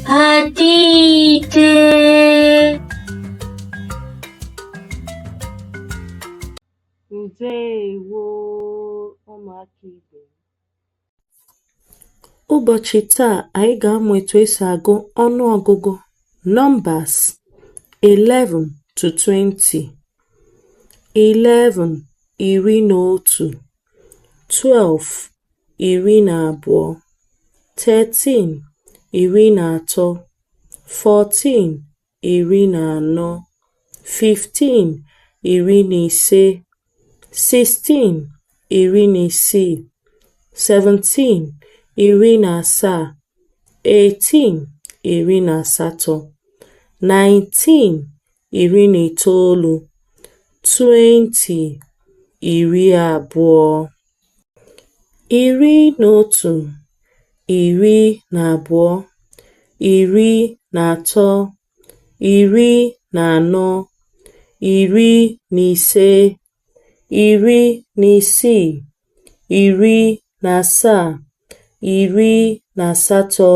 Ada Ide. Ndewo ụmụaka ibe Ụbọchị taa anyị ga-amụ etu esi agụ ọnụ ọgụgụ numbers 11 to 20 11 iri na otu twelve iri na abụọ thirteen iri na atọ fourteen iri na anọ fifteen iri na ise sixteen iri na isii seventeen iri na asaa eighteen iri na asatọ nineteen iri na itoolu, twenty iri abụọ, iri na otu, iri na abụọ, iri na atọ, iri na anọ, iri na ise iri na isii iri na asaa iri na asatọ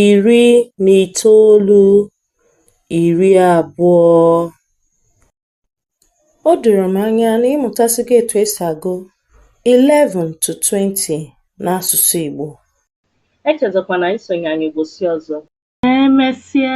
iri na itoolu iri abụọ O doro m anya na ị mụtasịgo etu esi agụ 11 to 20 n'asụsụ Igbo. Echezọkwana isonye anyị ụbọchị ọzọ. Ka emesịa.